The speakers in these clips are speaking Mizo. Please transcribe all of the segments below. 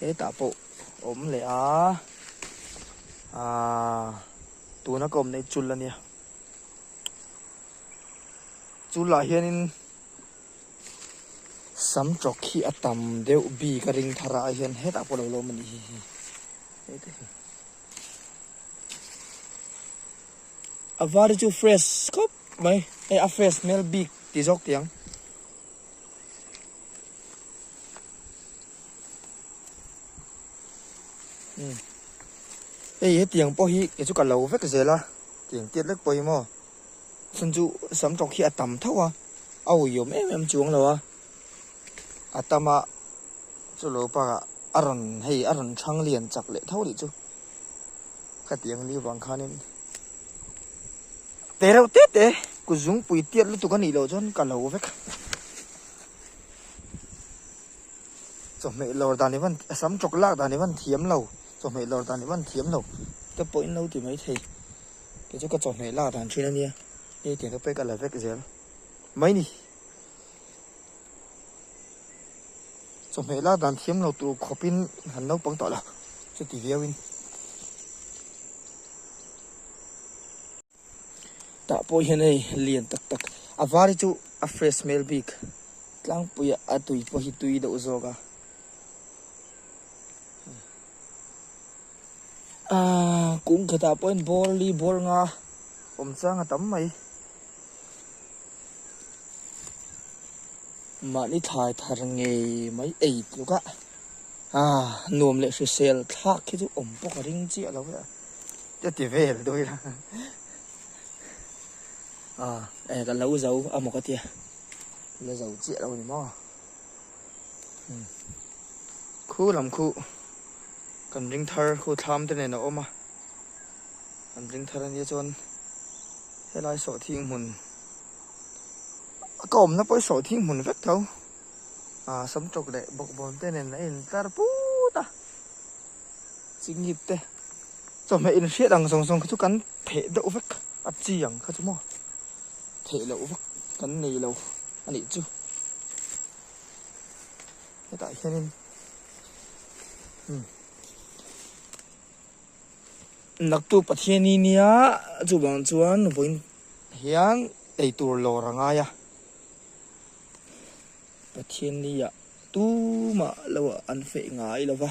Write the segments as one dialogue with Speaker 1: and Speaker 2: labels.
Speaker 1: Hetah pawh awm leh a, aah tuna ka awmna hi chul ania, chul ah hianin sam tawk hi a tam deuh bik a ring thar a, ai hian hetah pawh lo la awm a nih hi hi, heta hi. A var hi chu fresh khawp mai, hei a fresh hmel bik ti zawk tiang. Hmm. Ei, he tiang pawh hi kei chu ka lo vek zel a, tiang tiat vek pawh hi maw. Chhun chu sam tawk hi a tam tho a, a uiawm em em chuang lo a. A tam a, chu lo bakah a rawn hei a rawn ṭhang lian chak leh tho leh chu. Khatiang li vang khanin. Te reuh te te ku zungpui tiat lutuk a nih loh chuan ka lo vek. Chawhmeh lawr dan i van a sam tawk lak dan i van thiam lo, chawhmeh lawr dan i van thiam lo. Ka pawhin lo ti mai thei, kei chu ka chawhmeh lak dan thin a nia, hei tiang ka pek a la vek zel mai ni. Chawhmeh la dan thiam lo tur khawpin han naupang tawh la chuti viauin tah pawh hian hei lian tak tak a var hi chu a fresh smell bik tlangpuiah a tui pawh hi tui deuh zawk a. Kûngkhetah pawhin bâwl li bâwl nga awm châng a tam mai. Mahni thlai thar ngei mai ei tluk a, nuam leh hrisel thlâk khi chu awm bawk a ring chiah lo e a, ka ti vêl dawn ila ka lo zo a maw ka tia, ka lo zo chiah lo a ni maw. Khu lam khu kan ring thar khu thlam te nen a awm a, kan ring thar ania chuan helai sawh thing hmun ka awmna pawh i sawh thing hmun vek tho a, sam tluk leh bawkbawn te nen a in tlar put a. Chi ngit te chawhmeh in hriat ang zawng zawng kha chu kan pheh deuh vek a chi ang kha chu maw theih loh vak kan nei lo a nih chu. Hetah hianin naktu Pathiani nia chuvang chuan vawiin hian eitur lawr a ngai a, Pathian nia tumah lo an feh ngai lo va.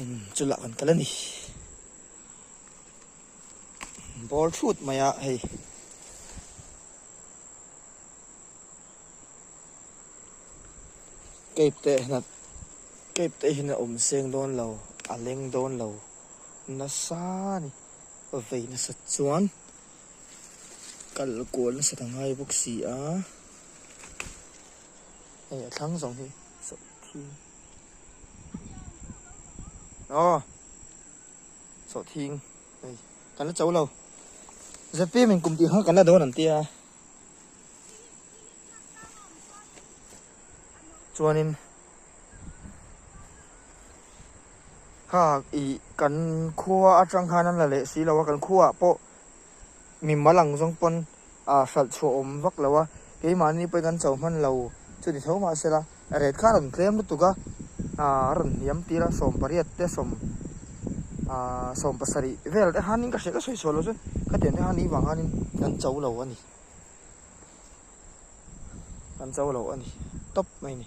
Speaker 1: Umm chu lah kan kal a ni. Bawr thut mai a hei. Cape te hna cape te hian a awm seng dawn lo a leng dawn lo nasa a ni a vei nasat chuan kal kual nasat a ngai bawk si a hei a thlang zawng hi. Aw. Saw thing. Hey. Kan la chau lo. ZP min kum ti kha kan la don an tia. Chuanin. Kha i kan khua atang khan an la leh si lo a kan khua pawh. Mi mal ang zawng pawn aa hralh chhuah awm vak lo a, keimahni pawhin an chho hman lo chu ni tho mah se la, ret kha a rawn tlem lutuk a, a rawn hniam tir a, sawm pariat te sawm sawm pasarih vel te han in ka hreh ka sawi chhuah lo chuan khatiang te han ihvang hanin kan cho lo a ni, kan cho lo a ni tawp mai ni.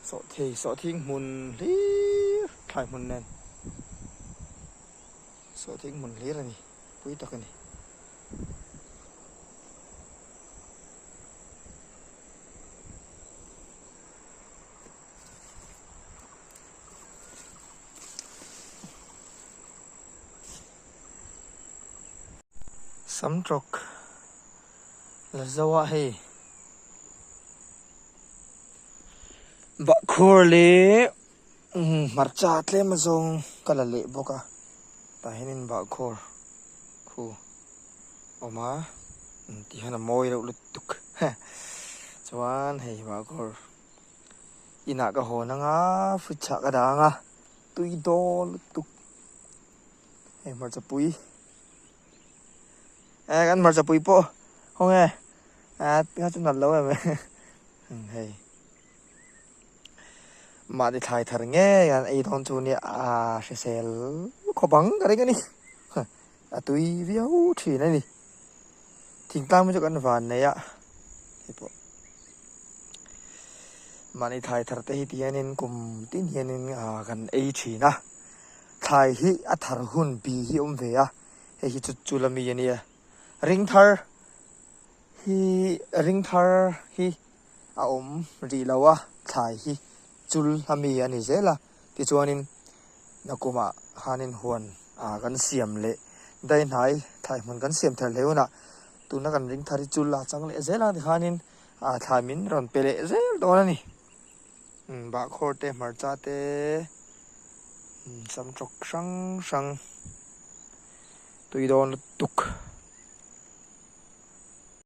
Speaker 1: Sawhthei sawhthing hmun hlir thlai hmun nen. Saw tih hmun hlir a ni. Pui tak a ni. Sam tlawk la zoa hei. Bahkhawr leh. Hmarcha tlema zawng ka la leh bawk a, tah hian in bahkhawr khu awm a, ti hian a mawi reuh lutuk he, chuan hei bahkhawr inah ka hawn anga fridge chhah ka dah anga tui dawn lutuk, hei hmarchapui eh kan hmarchapui pawh haw nge, a ti kha chu nalh lo em e, hei. Mahni thlai thar ngei an ei dawn chu nia a hrisel khawp ang ka ring a ni. A tui viau thin a ni. Thingtlang mi chu kan van nei a. Hei pawh. Mahni thlai thar te hi ti hianin kum tin hianin kan ei thin a. Thlai hi a thar hun pi hi awm ve a. Hei hi chu chulami a nia. Ring thar hi ring thar hi a awm rih lo a, thlai hi chul a mi a ni zel a, tichuanin Nakumah khanin huan a kan siam leh daihnaih thlai hmun kan siam thar hle hunah tuna kan ring thar hi chul a chang leh zel a tikhanin a thlai min rawn pe leh zel dawn a ni. Bahkhawr te, hmarcha te, sam tawk hrang hrang, tui dawn lutuk.